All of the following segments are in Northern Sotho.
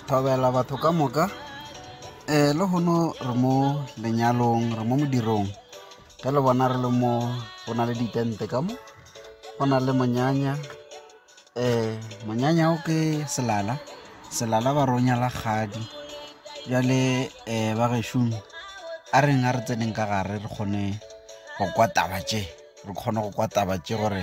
Thobela batho ka moka, lehono re mo lenyalong re mo modirong ge le bona re le mo go na le di tente ka mo, go na le monyanya monyanya o ke selala, selala ba re o nyala kgadi. Bjale ba gešong a reng a re tseneng ka gare re kgone go kwa taba tše, re kgone go kwa taba tše gore.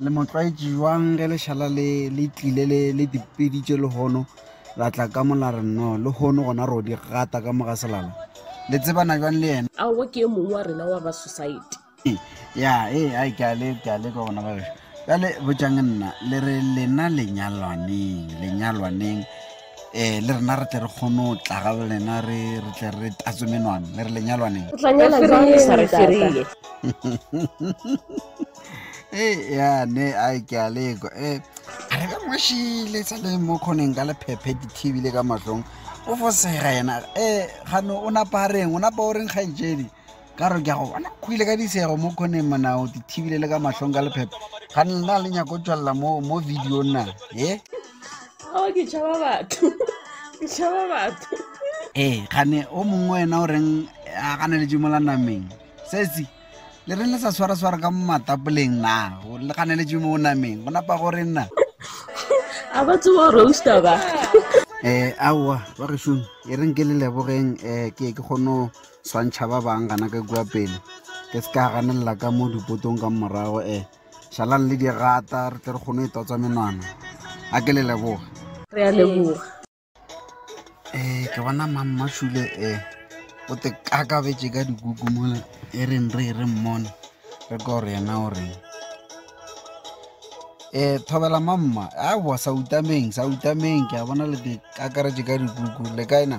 Le mo tlwaetše bjang ge lešala le le tlile le le dipeditše lehono la tla ka mo la re no lehono gona ro di gata ka mo ga selala le tsebana bjang le yena aowa ke e mongwe wa rena wa ba society ya e a ke a le ke a le ka gona ba ka le botšang nna le re lena lenyalwaneng lenyalwaneng eh le rena re tle re kgone go tla ga lena re re tle re tatswe menwana le re lenyalwaneng o tla nyala jang le sa re ferile ya ne a ke a lekwa e re ka ngwešile sa le mo kgoneng ka lephephe di thibile ka mahlong o fosega yena e gano o napa reng o napa o reng kgaetšedi ka re ke a go bona kgoile ka disego mo kgoneng manao di thibile le ka mahlong ka lephephe ga nna le nyako tswalela mo mo video na e ao ke tšhaba batho ke tšhaba batho ee gane o mongwe wena o reng a gane le jimola nameng sesi le reng le sa swara-swara ka matapoleng na le ganeletše mo o nameng go napa gore nna a ba tsewa roaster ba um aowa ba gešong e reng ke le lebogeng um ke ke kgono swantšha ba bang gana ka kua pele ke se ka ganelela ka mo dipotong ka morago um šalang le dirata re tle re kgone e totsa menwana a ke le leboga re a leboga um ke bona mammasule um eh, o te kakabetse ka dikuku mona e reng re re mmone re ka gore yena o reng um thobela mamma aowa sa utameng sa utameng ke a bona le te kakaretse ka dikuku le kae na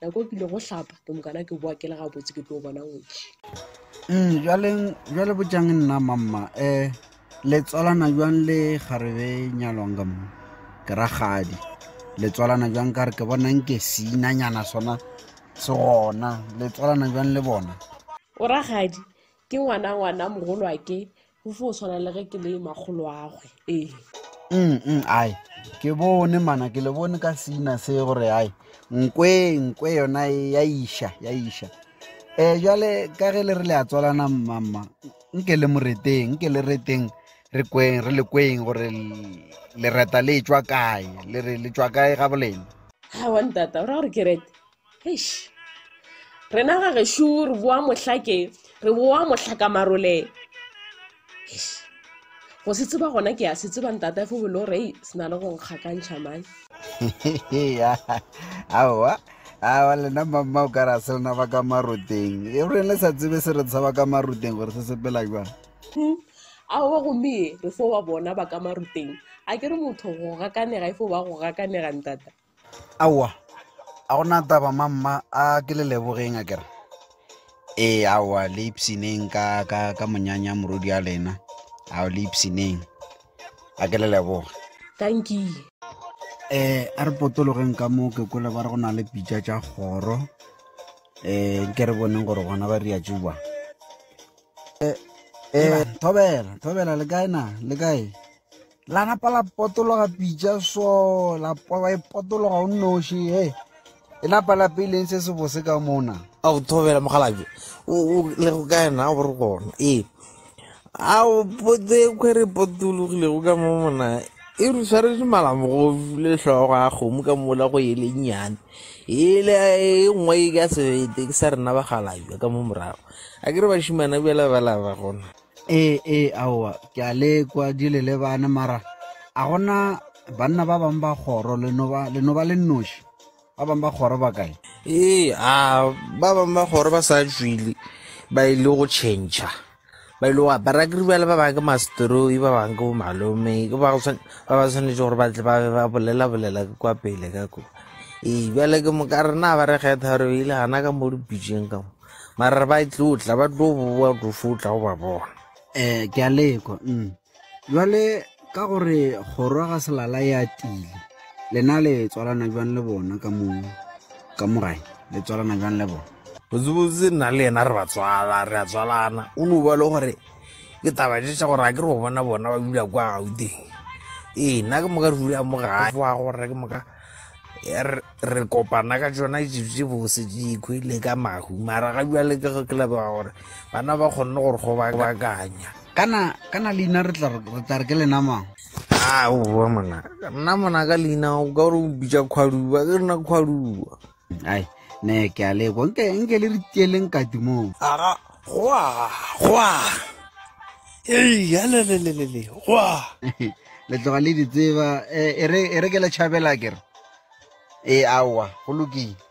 nako e kile go hlapa ke mokana ke boa ke le gabotse ke tlo bona ngwetši um bjaleng bjale botjang nna mamma um le tswalana jwang le garebe nyalwang ka mo ke ragadi le tswalana jwang ka re ke bonang ke seinanyana sona se gona le tswalana jwang le bona o ragadi ke ngwana ngwana mogolo a ke go fo tshwana le ge ke le makgoloagwe ee mm, mm, ai ke bone mana ke le bone ka seina se gore ai nkwe nkwe yona e ya iša ya iša um jale ka ge le re le a tswalana mmamma nke le moreteng nke le reteng re kweng re le kweng gore lereta le tswa kae le re le tswa kae ga bolena ga wa ntata o ra gore ke rete eish rena ga gešo re boa mohlake re boa mohlaka marole eish go se tseba gona ke a se tseba ntata fo bolo re se na le go nkgakantšha mane aowa awa lena mamma o ka ra se lena ba ka maroteng e re le sa tsebe se re tshaba ka maroteng gore se sepela jwang hmm. aowa gomme re fo wa bona ba ka maroteng a ke re motho go gakanega e fo ba go gakanega ntata aowa a go na taba mamma a ke le lebogeng a kere ee aowa le ipsineng ka, ka, ka monyanya morodi a lena ao le ipsineng a ke le leboge tankile um a re potologeng ka moo ke kole ba re go na le pitša tša kgoro um nke re boneng gore gona ba ria tšuba um thobela thobela le kae na le kae La napa la potologa pitša so, la pola e potologa o nnoši, he. E napa la peileng se se bose ka mona. A go thobela mogalabi. O le go ka ena go re gona. Ee. A o potse khwere potologile go ka mo mona. E re tshwaretse malamogofi le hlogo a kgomo ka mola go e le nyane. E le e nngwe e ka sebete ke sa rena bagalabi ka mo morago. A ke re bashimana bjala ba la ba gona. ee ee aowa ke a lekwa di le lebane mara a gona banna ba bangwe ba kgoro le no ba le no ba le noši ba bangwe ba kgoro ba kae ee a ba bangwe ba kgoro ba sa tswile ba ile go change ba ile go apara ke ribale ba bangwe ke masteroi ba bangwe ke bomalome ke ba go tshwane- ba ba tshwanetse gore ba tle ba be ba bolela bolela ke kwa pele ka ko ee bjale ke moka rena ba re kgetha gore ile gana ka mo dipitšeng ka mo mara re ba e tlo tla ba tlo boa tlo fo tla go ba bona eh ke a lekwa mm jwale ka gore kgorwa ga selala ya tile lena le tswalana jwang le bona ka mo ka mogae le tswalana jwang le bona botsebotse nna le yena re ba tswala re a tswalana o no ba le gore ke taba ješa gore a ke re go bona bona ba dula kwa gauteng ee nna ke moka re dula mo gae wa gore ke moka re kopana ka tsona ditsotsi bose dikwe le ka mahu mara ga jale ke ge ke lebega gore bana ba kgonne gore go bakanya kana kana leina re tla re ke lenamang a o bua mona nna mona ka leina o ka gore o bitsa kgwaduba ke rena kgwaduba ai ne ke a lekwa nke nke le re tieleng kati moo aga go aga go aga ealelelelele gwa le tloga le di tseba e re ke le tšhabela kere ee aowa go lokile